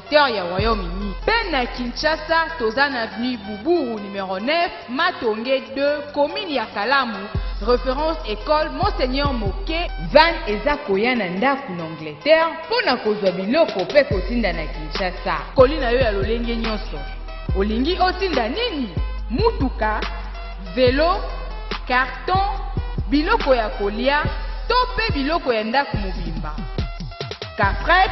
secteur ya Royaume Uni. Pe na Kinshasa toza na avenue Buburu numero 9, Matonge 2, commune ya Kalamu, référence école Monseigneur Moke. Van eza koya na ndako na Angleterre mpo na kozwa biloko pe kotinda na Kinshasa. Koli na yo ya lolenge nyonso. Olingi otinda nini? Mutuka, velo, carton, biloko ya kolia to pe biloko ya ndako mobimba. Kafret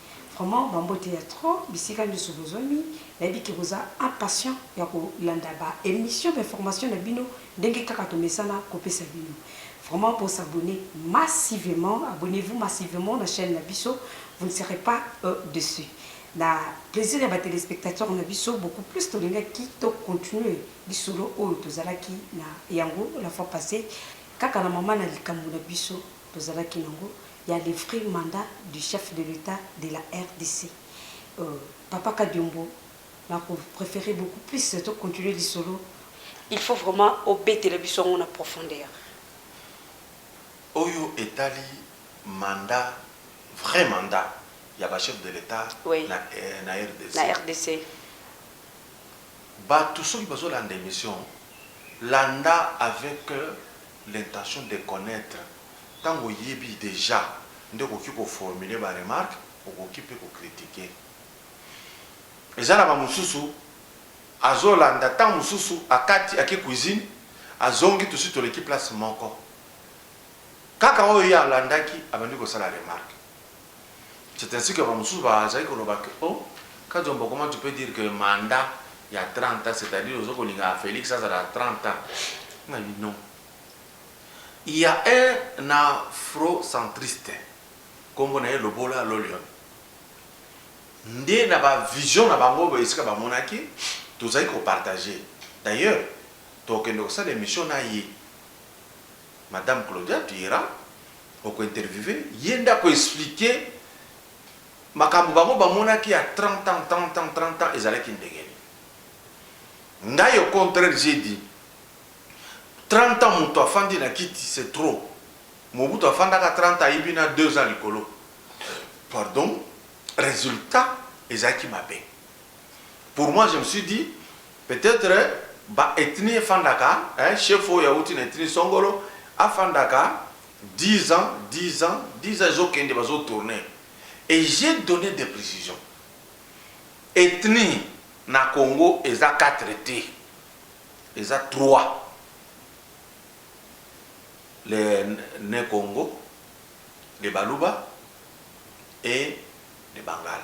Vraiment ba mbote ya trop bisika nioso bozwami nayebi ke boza impatient ya ko landa ba emission ba information na bino ndenge kaka tomesana ko pesa bino vraiment bo s'abonner massivement abonnez vous massivement na chaine na biso vous ne serez pas deçu na plaisir ya ba telespectateurs na biso beaucoup plus tolingaki to continuer lisolo oyo tozalaki na yango la fois passee kaka na maman na likambo na biso Tozalaki nango ya le vrai mandat du chef de l'etat de la rdc papa kadiombo na ko prefere beaucoup plus to continuer lisolo. Il faut vraiment obetela biso yango na profondeur. Oyo etali mandat vrai mandat ya ba chef de l'etat na rdc. Na rdc. Batu soki bazo landa emission landa avec. l'intention de connaitre, tango oyebi dejà nde okoki ko formuler ba remarques, okoki mpe ko critiquer. Eza na ba mosusu azo landa tango mosusu akati ake cuisine azongi tosi toleki place moko kaka oyo ye alandaki abandi kosala remarque. C'est ainsi que ba mosusu ba zalaki ko loba que oh Kadiombo comment tu peux dire que mandat ya 30 ans c'est à dire ozo ko linga Felix azala 30 ans nga na lobi non il ya un afrocentriste kombo na ye Lobola Lolion nde na ba vision na bango esika ba monaki tozalaki ko partager d'ailleurs toko kende kosala emission na ye Madame Claudia tu iras oko interviewer ye nde ako expliquer makambo bango ba monaki ya 30 ans, 30 ans, 30 ans ezalaki ndenge nini? Ngai au contraire j'ai dit 30 ans mutu afandi na kiti c'est trop, Mobutu afandaka 30 ans ayibi na deux ans likolo pardon, resultat ezalaki mabe. Pour moi je me suis dit Peut etre ba ethnie efandaka eh chef oyo awuti na ethnie songolo afandaka dix ans dix ans dix ans ezo kende bazo tourne et j'ai donne des precision ethnie na congo eza quatre te eza trois le ne kongo le baluba et le bangala.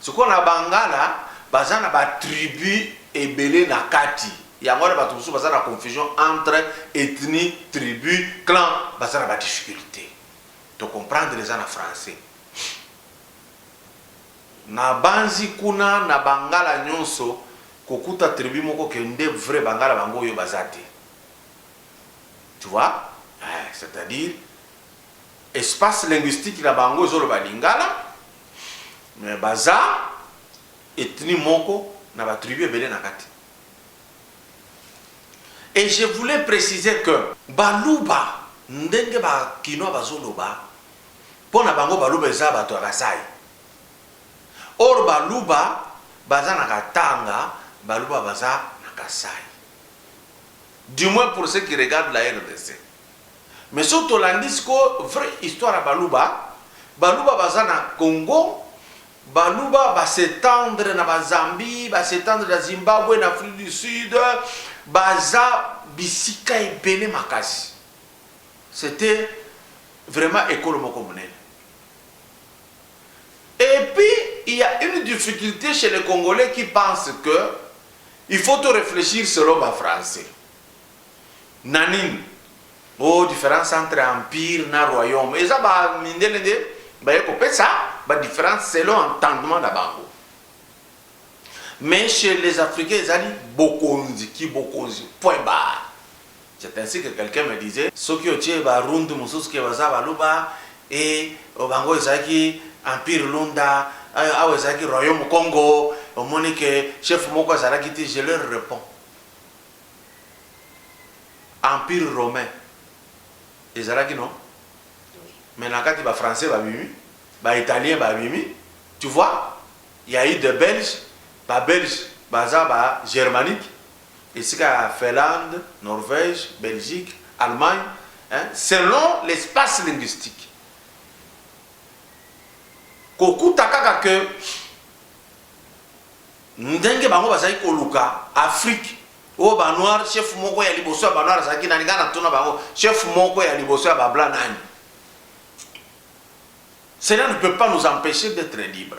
Sikoyo na bangala baza na ba tribus ebele na kati yango wana batu mosusu baza na confusion entre ethnie, tribus, clan baza na ba difficultes to comprendre eza na français na banzi kuna na bangala nionso kokuta tribus moko que nde vrai bangala bango oyo baza te tu vois eh c'est à dire. Espace linguistique na bango ezo loba lingala mais baza ethnie moko na ba tribus ebele na kati. Et je voulais preciser que baluba ndenge ba kinois bazo loba po na bango baluba eza batu ya Kasai or baluba baza na Katanga baluba baza na Kasai du moins pour ce qui regarde la rdc. Mais soki tolandi sikoyo vrai histoire ya baluba, baluba baza na Congo, baluba ba s'etendre na ba Zambie, ba s'etendre na Zimbabwe, na Afrique du Sud, baza bisika ebele makasi. C'etait vraiment ekolo moko monene. Et puis, il ya une difficulte chez les Congolais qui pensent que il faut to reflechir selon ba Français. Na nini? Oh difference entre empire na royaume eza ba mindele nde baye kopesa ba difference selon entendement na bango. Mais chez les africains ezali bokonzi ki bokonzi point barre. C'est ainsi que quelqu'un me disait soki otie ba rundu mosusu ke baza baluba et bango ezalaki empire lunda awa ezalaki royaume congo omoni ke chef moko azalaki te je leur reponds Empire romain ezalaki non? Mais na kati ba français ba bimi, ba italiens ba bimi, tu vois? Il ya eu des belges, ba belges baza ba germaniques esika ya Finlande, Norvège, Belgique, Allemagne hein, selon l'espace linguistique. Kokuta kaka que Ndenge bango bazali koluka Afrique oyo ba noir chef moko ya liboso ya ba noir azalaki nani nga natuna bango chef moko ya liboso ya ba blanc nani? Cela ne peut pas nous empecher d'etre libre.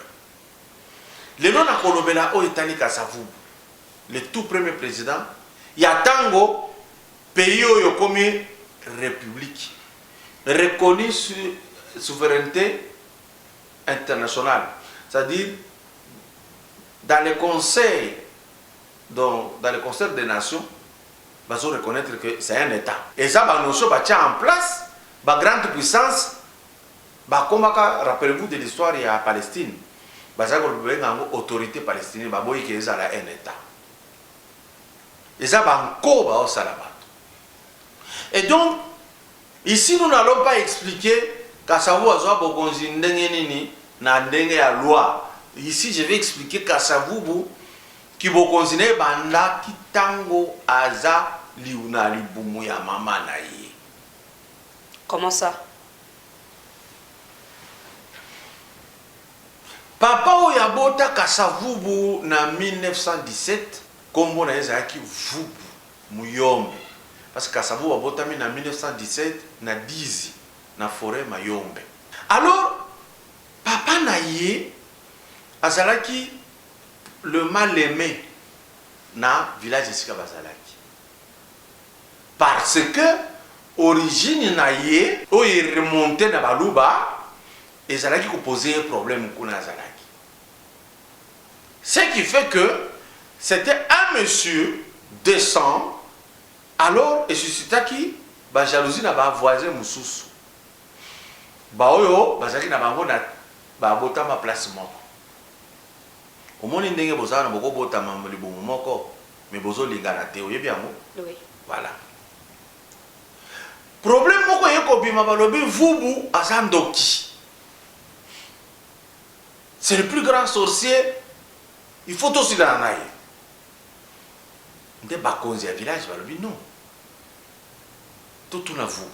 Lelo nakolobela oyo etali Kasavubu le tout premier president ya tango pays oyo ekomi republique reconnue sur souveraineté internationale c'est-à-dire dans le conseil donc dans le concert des nations bazo reconnaitre que c'est un etat eza ba notion batia en place ba grande puissance bakomaka rappelez vous de l'histoire ya Palestine bazali kobenga yango autorité palestinienne baboyi ke ezala un etat eza ba nko baosala bato et donc Ici nous n'allons pas expliquer Kasavu azua bokonzi ndenge nini na ndenge ya loi, ici je vais expliquer Kasavubu ki bokonzi naye ebandaki tango aza na libumu ya maman naye. Comment ça? Papa oyo abota Kasavubu na 1917 kombo naye ezalaki Vubu. Muyombe parce que Kasavubu abotami na 1917 na Dizi na foret Mayombe. Alors papa na ye azalaki le mal aime na village esika bazalaki parce que origine na ye oyo e remonter na baluba ezalaki ko poser ye problème kuna azalaki ce qui fait que c'etait un monsieur decent alors e suscitaki ba jalousie na ba voisins mosusu ba oyo bazalaki na bango na ba botama place moko omoni ndenge boza wana boko botama libumu moko mais bozo lingana te oyebi yango oui voilà problème moko eye kobima balobi vubu aza ndoki C'est le plus grand sorcier il faut tosilana na ye nde bakonzi ya village balobi non totuna vubu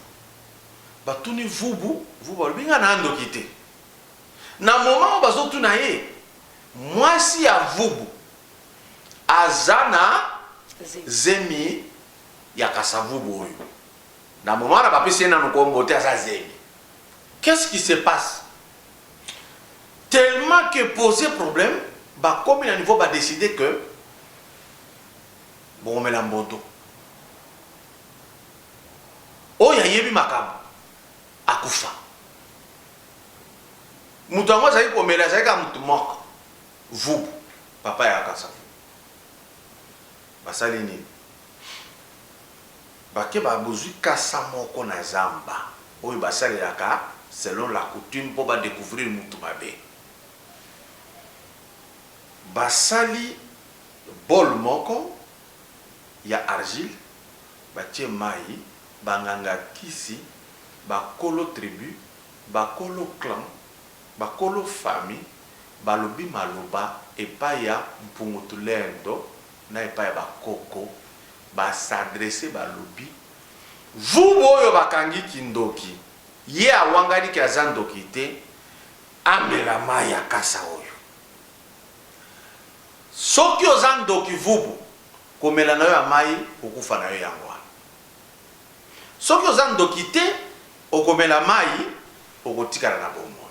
batuni vubu vubu alobi nga na ndoki te na moment oyo bazotuna ye mwasi ya vubu aza na zemi ya kasavubu oyo na moment wana bapesi ye nanu kombo te aza zemi qu'est ce qui se passe Tellement que pose problème ba komi na niveau ba decide que boko mela mbondo. Oyo ayebi makambo akufa. Mutu yango azali komela azali kaka mutu moko vubu papa ya kasa vubu basali nini Bakeba bozui kasa moko na zamba oyo basalelaka selon la coutume po ba decouvrir mutu mabe. Basali bol moko ya argile batie mayi, ba nganga kisi, ba kolo tribu, ba kolo clan, ba kolo famille balobi maloba epai ya Mpungu Tulendo na epai ya ba koko ba s'adresser balobi vubu oyo bakangi kindoki ye awangani ke aza ndoki te amela mayi ya kasa oyo soki oza ndoki vubu komela nayo ya mayi kokufa nayo yango wana soki oza ndoki te okomela mayi okotikala na bomoi.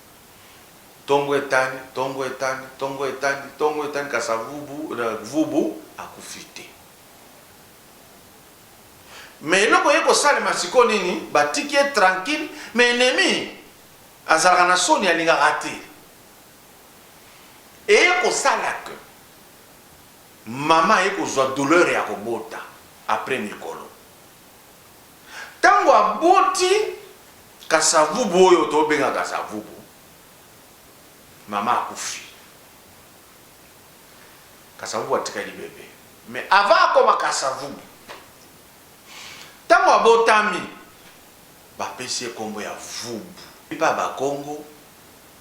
Tongo etani, tongo etani, tongo etani, tongo etani, kasi avubu, vubu akufi te. Mais eloko eye kosalema sikoyo nini? Batiki ye tranquille, mais ennemi azalaka na soni, alingaka te. Eye kosala que mama aye kozwa douleur ya kobota après mikolo. Tango aboti Kasavubu oyo to benga Kasavubu, mama akufi. Kasavubu atikali bebe. Mais avant akoma Kasavubu, tango abotami, ba pesi ye kombo ya Vubu. Epa ba Kongo.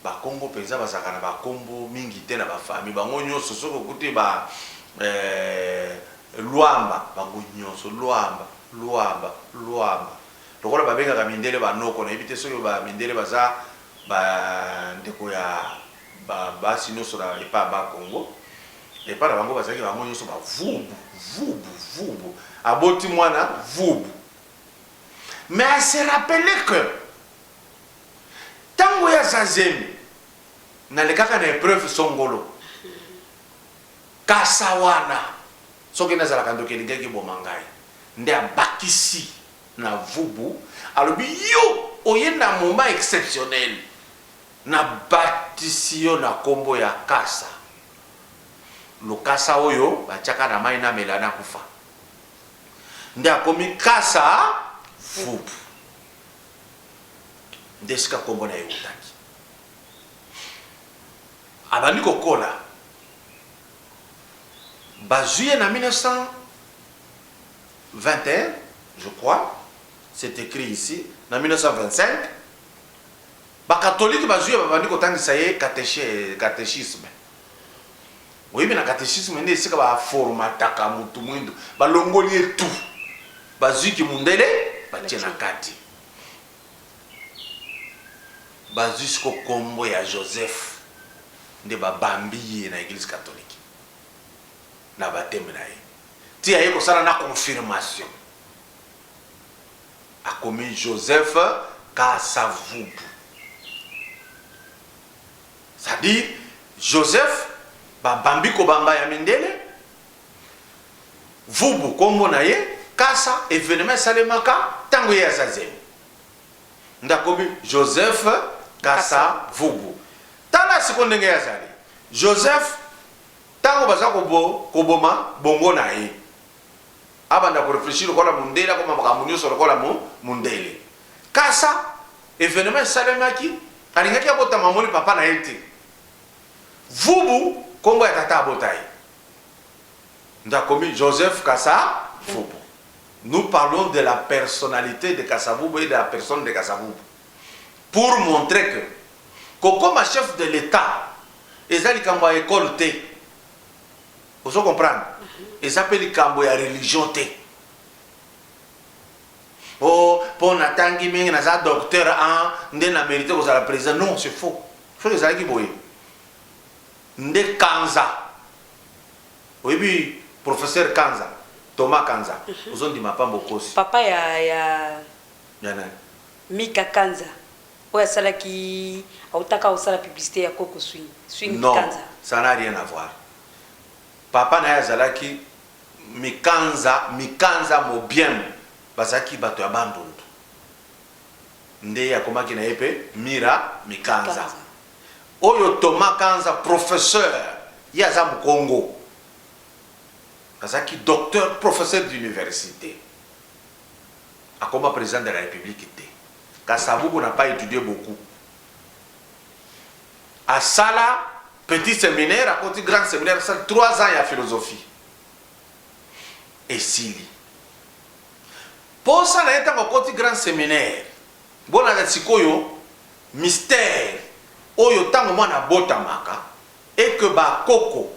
Bakongo penza bazalaka na ba kombo mingi te na ba famille bango nionso soki okuti ba eeh luamba bango nionso luamba luamba luamba lokola babengaka mindele ba noko nayebi te soki ba mindele baza ba ndeko ya ba basi nionso na epa ba kongo epa na bango bazalaki bango nionso ba vubu vubu vubu aboti muana vubu mais a se rappeler que Tango ya za zemi na lekaka na epreuve songolo kasa wana soki na zalaka ndoki elingi ki boma ngai nde abakisi na vubu alobi yo oye na moment exceptionnel na batisi yo na kombo ya kasa lokasa oyo ba tiaka na mayi na mela na kufa nde akomi kasa vubu nde esika nkombo na ye eutaki. Abandi kokola, bazwi ye na 1921 je crois, c'est écrit ici, na 1925 bakatolike bazwi ye, babandi kotangisa ye catechisme. Boyebi na catecisme nde esika ba formataka mutu muindu, balongoli ye tout, bazui ki mundele batie na kati, bazui sikoyo kombo ya Joseph nde ba bambi ye na eglise catholique na bapteme na ye ti aye kosala na confirmation akomi Joseph Kasa Vubu. C'est à dire Joseph ba bambi kobamba ya mindele vubu kombo na ye kasa evenement esalemaka tango ye aza zemi nde akomi Joseph kasa vubu tala siko ndenge ye azali Joseph tango baza koboma bongo na ye abanda ko reflechir lokola mundele akoma makambo nionso lokola mundele Nkasa, evenement esalemaki, alingaki abotama amoni papa na ye te. Vubu, kombo ya tata abota ye. Nde akomi Joseph Kasa Vubu. Nous parlons de la personnalite de Kasa Vubu et de la personne de Kasa Vubu pour montrer que kokoma chef de l'Etat eza likambo ya ecole te. Ozo comprendre? Eza pe likambo ya religion te. oh po na tangi mingi naza docteur en nde na merite kozala president non c'est faux soki ezalaki boye nde kanza oyebi professeur kanza thomas kanza mhm. ozondima pamba okosi papa ya ya ya nani mika kanza oyo asalaki autaka osala publicité ya koko swing swing non, kanza ça n'a rien à voir papa na ye azalaki Mikanza, Mikanza Mobiembo bazalaki bato ya Bandundu nde akomaki na ye mpe Mira Mikanza. Oyo Thomas Kanza, professeur, ye aza Mukongo, azalaki docteur, professeur d'universite, akoma president de la Republique te. Kasavubu n'a pas etudie beaucoup, asala Petit seminaire akoti grand seminaire asali trois ans ya philosophie esili. Posa na ye ntango akoti grand seminaire bonana sikoyo mystère oyo ntango mwana abotamaka et que ba koko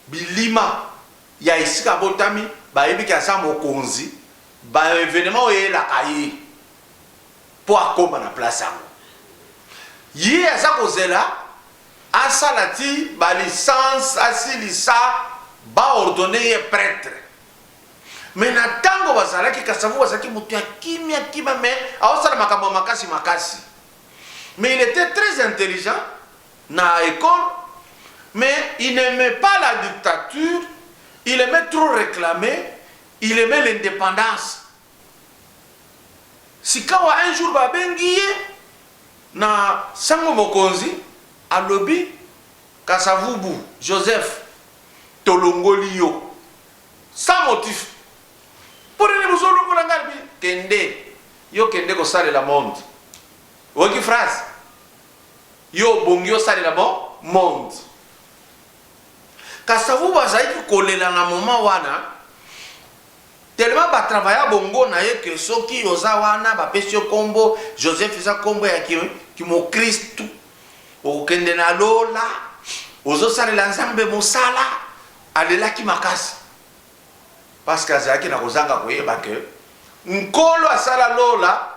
bilima ya esika abotami bayebi ke aza mokonzi ba evenement oyo eyelaka ye mpo akoma na place yango ye aza kozela Asala ti ba licence asilisa ba ordonne ye pretre mais na tango bazalaki kasavubu azalaki mutu ya kimia kimia mais aosala makambo ya makasi makasi mais il etait très intelligent na ecole mais il n'aimait pas la dictature il aimait trop reclamer il aimait l'independance Sikawa un jour ba bengi ye na sango mokonzi alobi kasavubu Joseph tolongoli yo sans motif pour nini bozo longola nga alobi kende yo kende kosalela monde oyoki phrase yo obongi osalela bo monde kasavubu azalaki kolela na moment wana Tellement ba travailla bongo na ye que soki oza wana ba pesi yo kombo Joseph eza kombo ya ki mokristu okokende na lola ozo salela nzambe mosala alelaki makasi parce que azalaki na kozanga koyeba que nkolo asala lola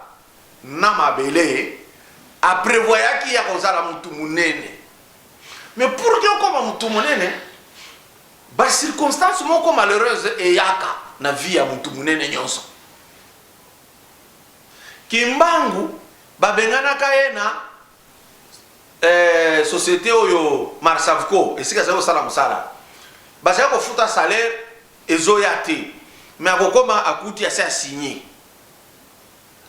na mabele a prevoyaki ya kozala mutu munene mais pour que okoma mutu munene Ba circonstances moko malheureuses eyaka na vie ya mutu munene nionso. Kimbangu babenganaka ye na eh, societe oyo Marsavco esika azali kosala mosala, bazali kofuta salaire ezoya te, mais akokoma akuti asi asigne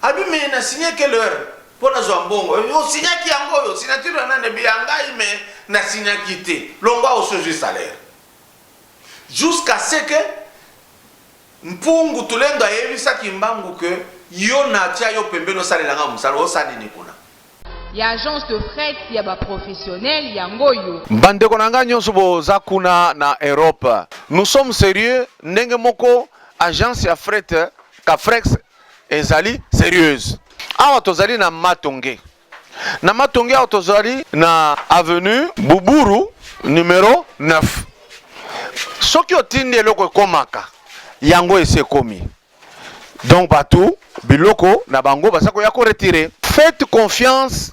Alobi mais na signe quelle heure po nazwa mbongo? O signaki yango oyo? Signature ya nani? Alobi ya ngai mais na signaki te. Longwa awa osi ozwi salaire. Jusqu'à ce que Mpungu Tulendo ayebisa Kimbangu que yo natia yo pembeni osalela nga mosala, osala nini kuna? Ya agence de fret ya ba professionnels yango oyo. Ba ndeko na nga nionso boza kuna na Europe, nous sommes serieux ndenge moko agence ya fret Cafrex ezali serieuse. Awa tozali na Matonge. Na Matonge awa tozali na avenue Buburu numero 9. Soki otindi eloko ekomaka yango esi ekomi. Donc bato biloko na bango baza koya ko retirer. Faites confiance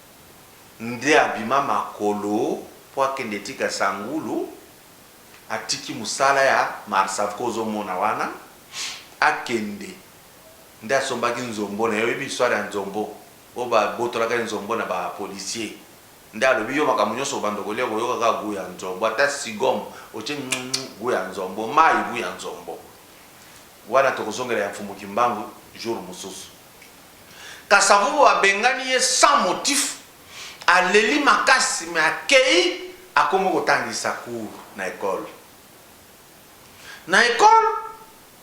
nde abima makolo po akende tika sangulu atiki musala ya marsavco ozo mona wana akende nde asombaki nzombo naye oyebi histoire ya nzombo oyo ba botolaka ye nzombo na ba policier nde alobi yo makambo nionso obanda kolia okoyoka kaka gout ya nzombo ata sigom otie ngmgm gout ya nzombo mayi gout ya nzombo wana tokozongela ya mfumu kimbangu jour mususu Kasavubu abengani ye sans motif, aleli makasi mais akeyi akomi kotangisa cours na ecole. Na ecole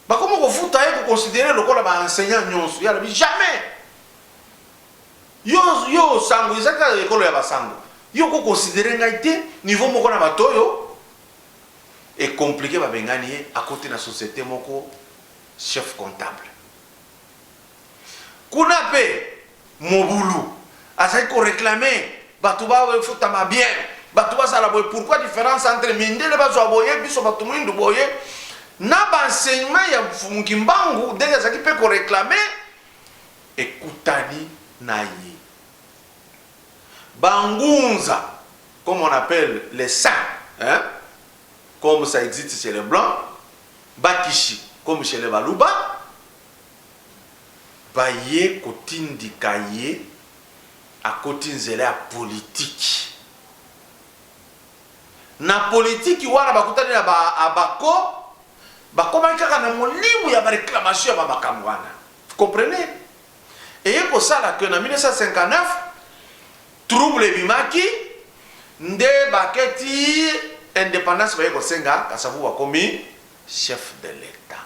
bakomi kofuta ye, ko considerer ye lokola ba enseignants nionso, ye alobi jamais! Yo, yo sango eza kaka ecole ya ba sango, yo oko considerer ngai te niveau moko na batu oyo? E complique, babengani ye akoti na societe moko chef comptable. Kuna pe mobulu azali ko reclame batu ba futama bien batu bazala boye pourquoi difference entre mindele bazwa boye biso batu mwindu boye na ba enseignement ya mfumu kimbangu ndenge azalaki mpe ko reclame ekutani na ye bangunza comme on appelle les saints hein? comme ça existe chez les blancs bakishi comme chez les baluba baye kotindika ye akoti nzela ya politiki. Na politiki wana bakutani na ba Abako, bakomaki kaka na molimo ya ba reclamations ya ba makambo wana. Vous comprenez? Eye kosala que na 1959, trouble ebimaki, nde bake ti independance baye kosenga, Kasavubu akomi chef de l'Etat.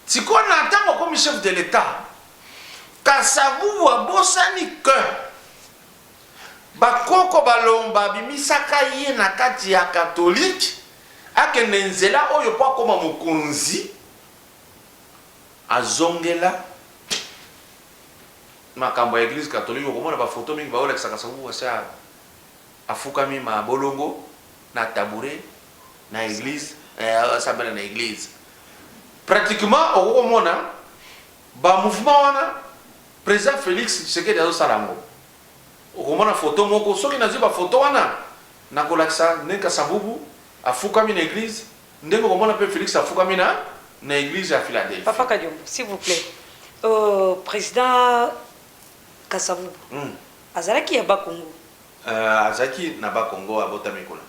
Sikoyo na tango akomi chef de l'etat, kasa vubu abosani que ba koko balong babimisaka ye na kati ya catholique akende nzela oyo po akoma mokonzi, azongela makambo ya eglise catholique, okomona ba photos mingi baolakisa kasa vubu asi a. Afukami ma bolongo na tabouret na eglise eh azo sambela na eglise pratiquement okoki komona ba mouvement wana president Felix Tshisekedi azo sala yango okomona photo moko soki nazui ba photo wana nakolakisa ndenge kasavubu afukami na eglise ndenge okomona pe Felix afukami na na eglise ya Philadelphie. Papa Kadiombo s'il vous plait euh, president Kasavubu Hum. azalaki ya Bas Congo? Euh, azalaki na Bas Congo, abotami kuna.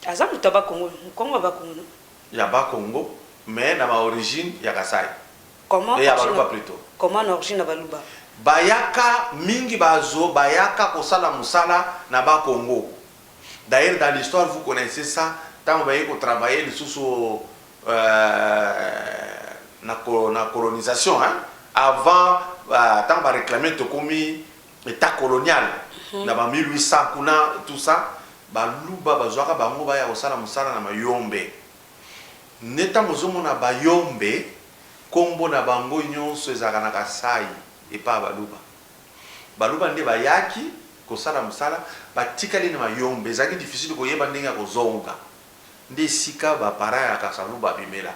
Aza moto ya Bas Congo, Mukongo ya Bas Congo non? Ya Bas Congo mais na ba origines ya Kasaï. Comment Et ya origine Baluba plutot. Comment na origine na Baluba? Bayaka mingi bazo bayaka kosala musala na Bas Congo. D'ailleurs dans l'histoire vous connaissez ça tango baye ko travailler lisusu euh na colonisation hein avant tango ba reclamer tokomi etat colonial na ba 1800 kuna tout ça baluba bazuaka bango baya kosala mosala na mayombe nde tango ozomona bayombe kombo na bango nionso ezalaka na kasai epa baluba Baluba nde bayaki kosala musala batikali na mayombe ezalaki difficile koyeba ndenge ya kozonga nde esika ba parents ya kasavubu babimela.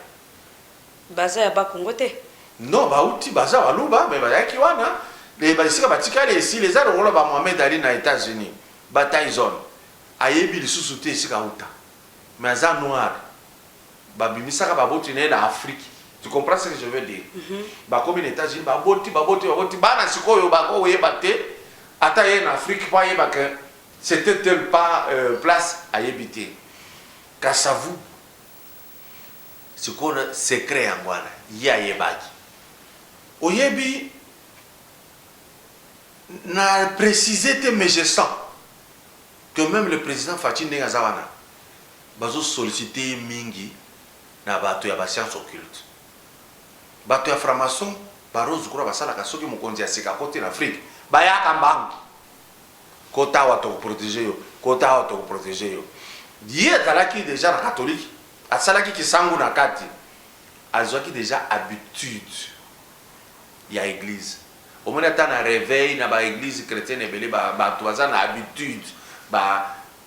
Baza ya bas congo te? Non bawuti baza baluba mais bayaki wana et ba esika batikali esili eza lokola ba Mohamed Ali na etats unis ba Tyson ayebi lisusu te esika awuta mais aza noir babimisaka baboti naye na Afrique tu comprends ce que je veux dire bakomi na Etats-Unis baboti baboti baboti bana sikoyo bako yeba te ata aye na Afrique po ayeba que c'etait tel pas place ayebi te kasavu sikoyo secret yango wana ye ayebaki oyebi na precise te mais je sens que meme le president Fatshi ndenge aza wana Bazo solliciter ye mingi na bato ya ba sciences occultes. Bato ya franc-maçon ba Rose Croix basalaka soki mokonzi ya sika akoti na Afrique, bayaka mbangu. Kota awa toko proteger yo, kota awa toko proteger yo. Ye azalaki dejà na catholique, asalaki kisangu na kati, azuaki dejà habitude ya eglise. Omoni ata na reveil na ba eglises chretiennes ebele ba bato baza na habitude ba.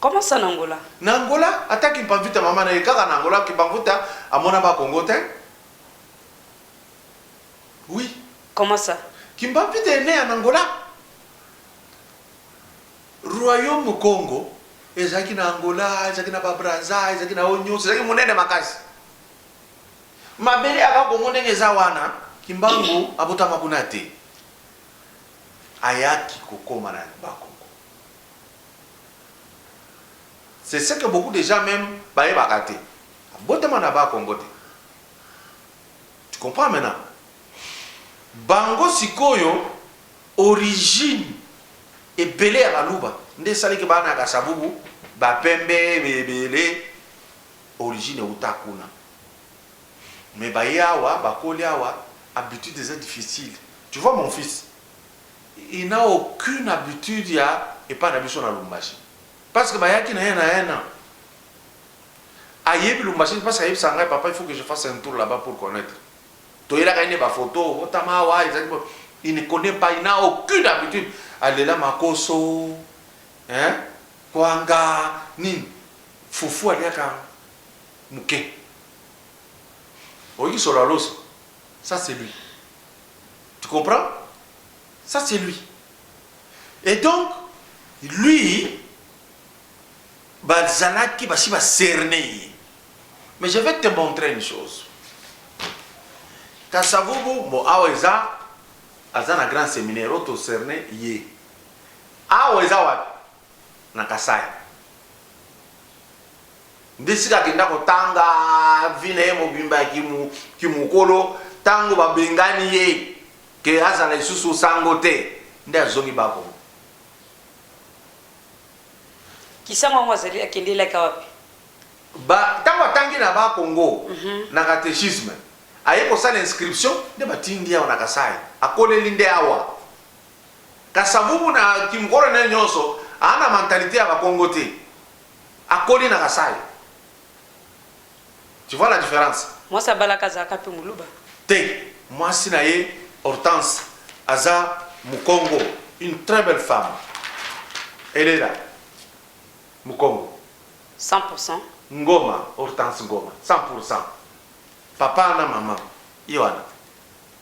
Comment ça na Angola? Na Angola ata kimpanvita mama naye kaka na Angola kimpanvuta amonama Congo tein oui. Comment ça? Kimpanvita est ne en Angola royaume Congo ezalaki na Angola ezalaki na ba Brazza ezalaki na oyo nionso ezalaki munene makasi mabele ya ba Congo ndenge eza wana kimbangu abotama kuna te. ayaki kokoma na ba koko c'est ce que beaucoup des gens meme bayebaka te abotama na ba kongo te tu comprends maintenant bango sikoyo origine ebele ya baluba nde esali ke bana ya kasavubu bapembe ebele origine euta kuna mais baye awa bakoli awa habitude eza difficile tu vois mon fils il n'a aucune habitude ya epa na biso na Lumbashi parce que bayaki na ye na un an ayebi Lumbashi te parce que ayebisaka ngai papa il faut que je fasse un tour là-bas pour connaitre toyelaka ye ne ba photo obotama awa ezali bo il ne connaît pas il n'a aucune habitude alela makoso hein kwanga nini fufu aliaka muke oyoki solo ya loso ça c'est lui tu comprends ça c'est lui et donc lui bazalaki basi ba cerne ye mais je vais te montrer une chose kasavubu bon awa eza aza na grand seminaire oyo toserne ye awa eza wapi na kasai Nde esika akenda kotanga vie na ye mobimba ya kimokolo, tango babengani ye ke azala lisusu sango te, nde azongi ba Congo. Kisango yango azali akende elaka wapi? Ba tango atangi na ba Congo na catechisme, aye kosala inscription nde batindi ye awa na Kasaï, akoleli nde awa. Kasavubu na kimokolo na ye nionso, aa na mentalite ya ba Congo te. Akoli na kasai tu vois la difference. Mwasi abalaka azalaka pe muluba? Te mwasi na ye Hortense aza mukongo une très belle femme elle est là mukongo 100 pour 100. Ngoma Hortense Ngoma 100 pour 100 papa na maman ye wana.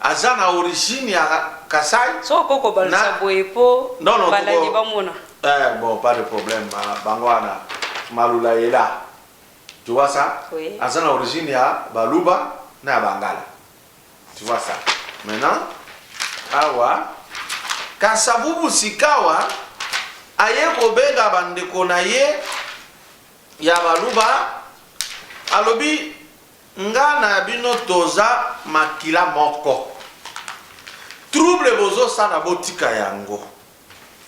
Aza na origine ya kasai Soki okoki kobalusa na- boye po Non, non, balandi toko- bamona. Eh, bon, pas de problème. Ma- Bango wana, Malula est là. Tu vois ça? Oui. Aza na origine ya Baluba na ya Bangala. Tu vois ça? Maintenant, awa, Kasavubu sikawa, aye kobenga bandeko na ye ya Baluba, alobi Nga na bino toza makila moko trouble bozo sala botika yango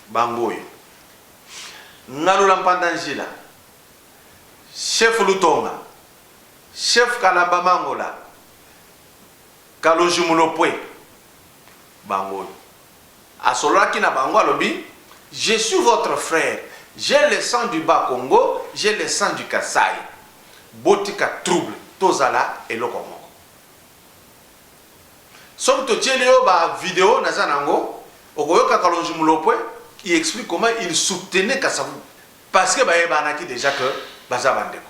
bango oyo ngalula mpanda njila chef lutonga chef kalamba mangola kalonji mulopwe bango oyo. Asololaki na bango alobi je suis votre frère j'ai le sang du bas kongo j'ai le sang du kasai botika trouble tozala eloko moko soki totieli yo ba video naza nango okoyoka kalonji mulopwe il explique comment il soutenait kasavubu parce que bayebanaki dejà que baza ba ndeko.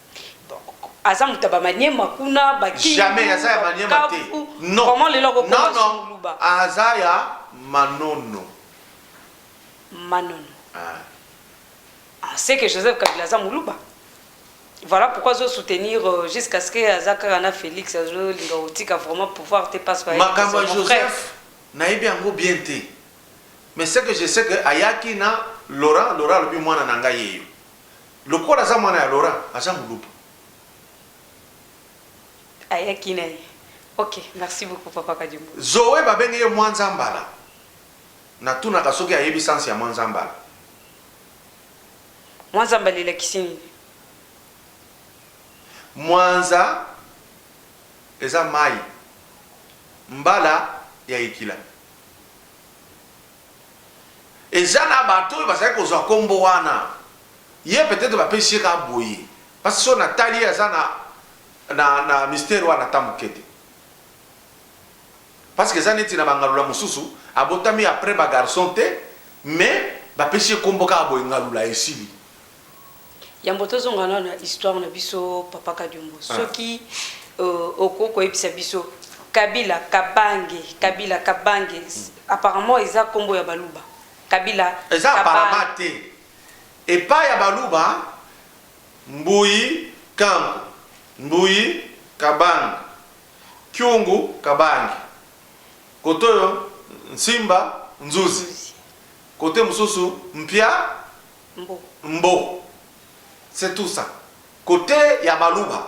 aza moto ya bamaniema kuna bakijamai aza ya maniema te nono lelo akokomasuluba aza ya manono manono ah. ah, c'est que joseph kabila aza moluba voilà pourquoi azo soutenir euh, jusqu'à ce que aza kaka na félix azolinga kotika vraiment pouvoir te parce que makambo ya joseph nayebi yango bien te mais ce que je sais que ayaki na laurent laurent alobi mwana na ngai yeyo Lokola aza mwana ya Laurent aza muluba. Ayaki na ye ok merci beaucoup papa kadiombo. Zoe ba bengi ye mwanzambala na tunaka soki ayebi sens ya mwanzambala. Mwanzambala elakisi nini? Mwanza eza mayi mbala ya ekila. Eza na bato oyo bazali kozwa kombo wana ye peut etre bapesi ye kaka boye pasi soki na tali ye aza na na mistere wana ata muke te parce que eza neti na bangalula mosusu abotami après ba garçon te mais bapesi ye kombo kaka boye ngalula esili Yambo tozonga nanu na histoire na biso papa Kadiombo ah. soki euh, okoki koyebisa biso Kabila Kabange Kabila Kabange hmm. apparemment eza kombo ya baluba Kabila eza apparemment te epa ya baluba Mbuyi Kanku Mbuyi Kabange Kyungu Kabange kotoyo Nsimba Nzuzi kote mosusu Mpia Mbo. Mbo. C'est tout ça. Cote ya baluba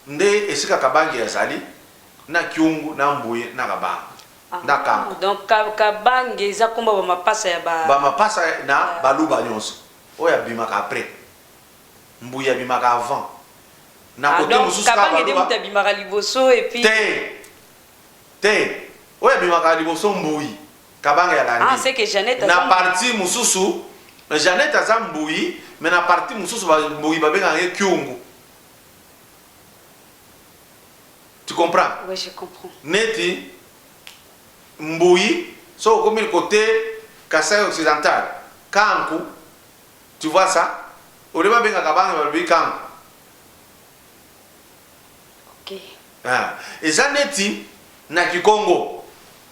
nde esika kabange azali na kiongo na mbuye na kabange na kanku. Ah donc kabange eza kombo ya ba mapasa ya ba. Ba mapasa na baluba nionso oyo abimaka après mbuye abimaka avant na cote mosusu kaka baluba. Ah donc kabange nde mutu abimaka liboso et puis. Te. Te. Oyo abimaka liboso mbuyi. Kabanga ya Landy. Ah, c'est que Jeannette aza Na mbuyi. partie mususu Jeannette aza mbuyi mais na partie mususu ba mbuyi ba bengaka ye kyungu. Tu comprends? Oui, je comprends. Neti mbuyi soki okomi cote Kasaï occidental kanku tu vois ça au lieu ba benga kabange balobi kanku. Ah, eza neti na kikongo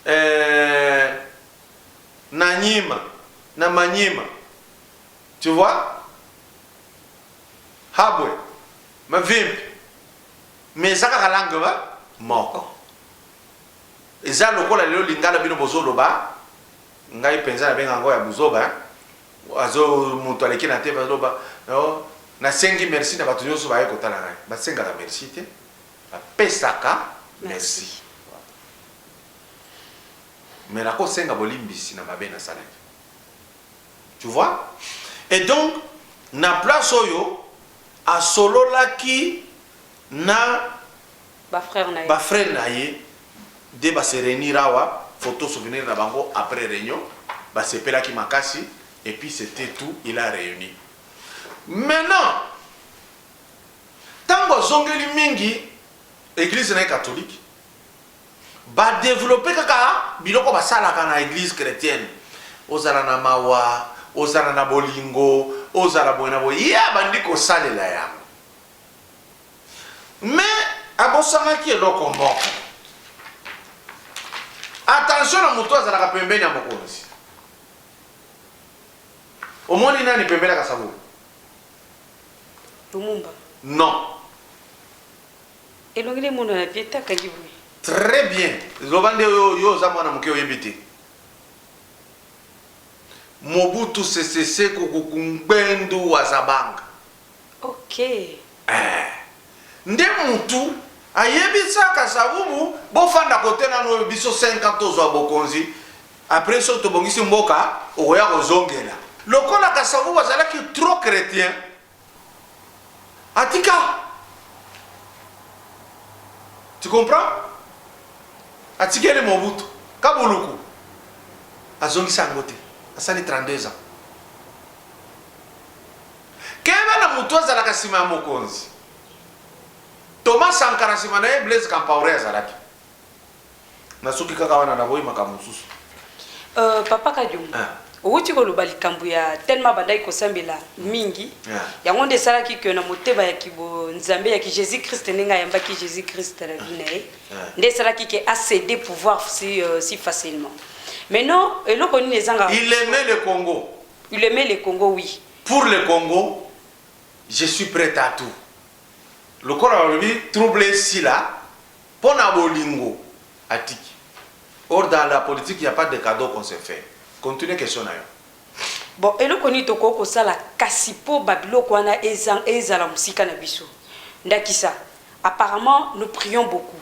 eh, na nyima na manyima tu vois habwe mavimbi mais eza kaka langue ba moko eza lokola lelo lingala bino bozoloba ngai mpenza nabenga yango ya buzoba Azo mutu aleki na TV azo loba oh, nasengi merci na batu nionso baye kotala ngai. Basengaka merci te, bapesaka merci. Mais nakosenga bolimbisi na mabe nasalaki. Tu vois? Et donc na place oyo asololaki na Ba frères na ye. Ba frères na ye nde ba se reunir awa, photo souvenir na bango après reunion, ba sepelaki makasi et puis c'etait tout, il a reuni. Maintenant, tango azongeli mingi eglise na ye catholique, ba developper kaka biloko basalaka na eglise chretienne, ozala na mawa, ozala na bolingo, ozala boye na boye, ye abandi kosalela yango. Mais abosanaki eloko moko. Attention na mutu azalaka pembeni ya mokonzi. Omoni nani pembeni ya Kasavubu? Lumumba. Non. Elongi na emonana bien te akangi boye. Très bien. Loba nde yo yo oza mwana moke oyebi te. Mobutu Sese Seko Kuku Ngbendu Wazabanga. Okay. Eeh nde mutu ayebisaka savubu bofanda kote nanu oyo biso 5 ans tozua bokonzi apres soki tobongisi mboka okoya kozongela. Lokola kasavubu azalaki trop chretien atika tu comprends atikeli mobutu ka buluku azongisa yango te asali 32 ans. Keba na mutu azalaka sima ya mokonzi Thomas Sankara sima naye Blaise Campaore azalaki Nasuki kaka wana naboyi makambo mosusu. Euh papa kadiombo Ah. owuti koloba likambo ya tellement abandaki kosambela mingi Yeah. yango nde esalaki que na motema ya kibo nzambe ya ki jesus christ ndenge ayambaki jesus christ na vie na ye Yeah. nde esalaki que acede pouvoir si, euh, si facilement maintenant eloko nini ezanga Il aimait le Congo. il aimait le congo oui Pour le Congo je suis pret a tout lokola balobi trouble esila po na bolingo atiki or dans la politique il ya pas de cadeau qu'on se fait continue question na yo. Bon eloko nini tokoki kosala kasi po ba biloko wana ezala musika na biso ndakisa apparemment nous prions beaucoup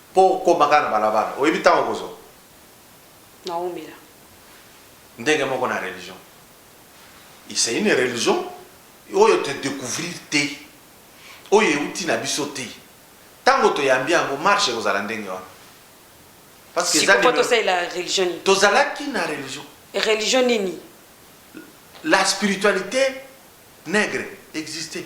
Po okoma kaka na balabala oyebi tango okozwa? Naomela. Ndenge moko na religion il c'est une religion oyo to decouvrir te oyo ewuti na biso te tango toyambi yango marche ekozala ndenge wana parce que eza Siko po numero tosalela religion nini? tozalaki na religion Religion nini? la spiritualite negre existait.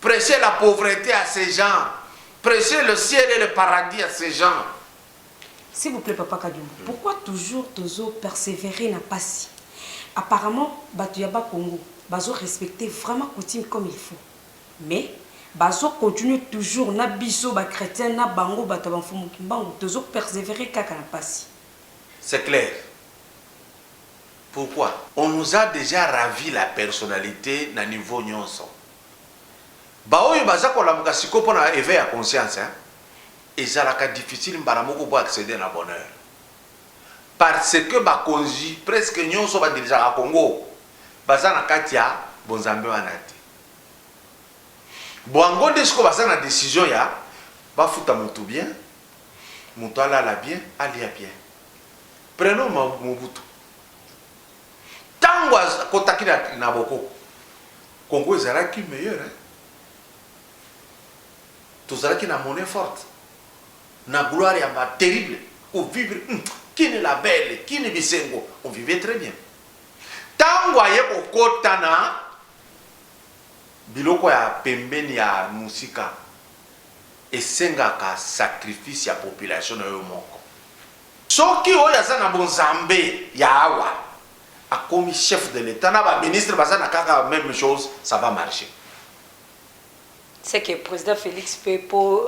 precher la pauvrete à ces gens precher le ciel et le paradis à ces gens. S'il vous plait papa kadiombo pourquoi toujours tozo perseverer na pasi apparemment batu ya bas congo bazo respecter vraiment coutume comme il faut mais bazo continuer toujours na biso ba chretiens na bango batu ya ba mfumu kimbangu tozo perseverer kaka na pasi. C'est clair. pourquoi? On nous a dejà ravi la personnalite na niveau nionso. Ba oyo baza kolamuka sikoyo mpo na eveil ya conscience hein, ezalaka difficile mbala moko bo acceder na bonheur. Parce que bakonzi presque nionso ba dirigeaka Congo baza na kati ya bonzambe wana te. Boango nde sikoyo baza na decision ya bafuta mutu bien, mutu alala bien, alia bien. Prenons Mobutu. Tango akotaki na boko, Congo ezalaki meilleur hein. Tozalaki na monnaie forte, na gloire ya ba terrible, ko vivre hum, kini la belle, kini bisengo, on vivait très bien. Tango aye kokota na biloko ya pembeni ya musika, esengaka sacrifice ya population na yo moko. Soki oyo aza na bonzambe ya awa akomi chef de l'etat na ba ministre baza na kaka meme chose ça va marche. Ce que president Felix pe po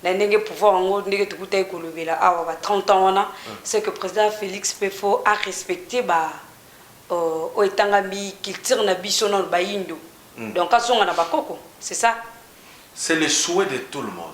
na ndenge pouvoir yango ndenge tokutaki kolobela awa ba 30 ans wana ce que president Felix pe faut a respecter ba oyo etangami culture na biso nanu bayindo donc azonga na bakoko c'est ça? C'est le souhait de tout le monde.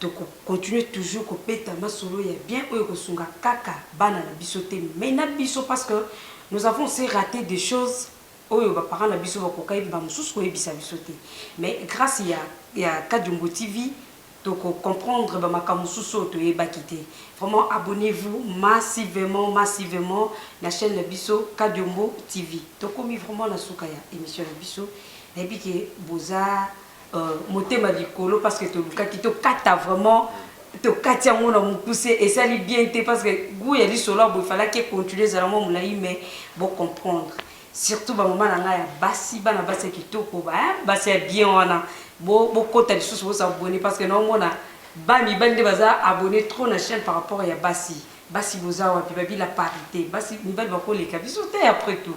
Toko continuer toujours ko beta masolo ya bien oyo eko sunga kaka bana na biso te mais na biso parce que nous avons aussi rate des choses oyo ba parents na biso ba kokaki ba mosusu ko yebisa biso te mais grace ya ya Kadiombo TV toko comprendre ba makambo mosusu oyo to yebaki te vraiment abonnez vous massivement massivement na chaine na biso Kadiombo TV. To komi vraiment na suka ya emission na biso na yebi ke boza Euh, motema likolo parce que tolukaki tokata vraiment tokati yango na mokuse esali bien te parce que gout ya lisolo ya boye falaki econtinue ezala mwa molai mais bocomprendre surtout bamama na ngai ya basi bana basi ya kitoko eh, basi ya bien wana bokota lisusu bosabone parce que naomona ba mibali nde baza abonne trop na chaîne par rapport ya basi basi boza wapi babi la parité basi mibali bakoleka biso te après tout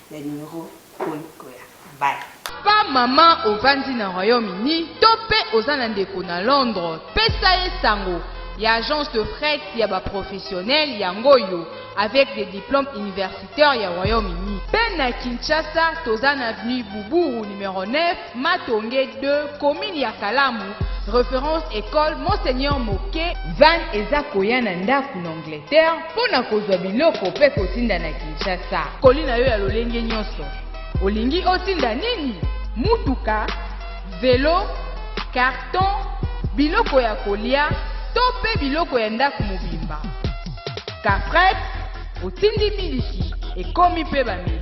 ya numero oyo ekoya bye. Papa maman ovandi na royaume uni to pe oza na ndeko na londre pesa ye sango ya agence de fret ya ba professionnel yango oyo avec des diplomes universitaires ya royaume uni pe na kinshasa toza na avenue buburu numero 9 Matonge 2, commune ya Kalamu, reference école Monseigneur Moke. Van eza koya na ndako na Angleterre mpo na kozwa biloko mpe kotinda na Kinshasa. Koli na yo ya lolenge nyonso. Olingi otinda nini? Mutuka, velo, carton, biloko ya kolia to mpe biloko ya ndako mobimba. Kafret, otindi miliki, ekomi mpe bameli.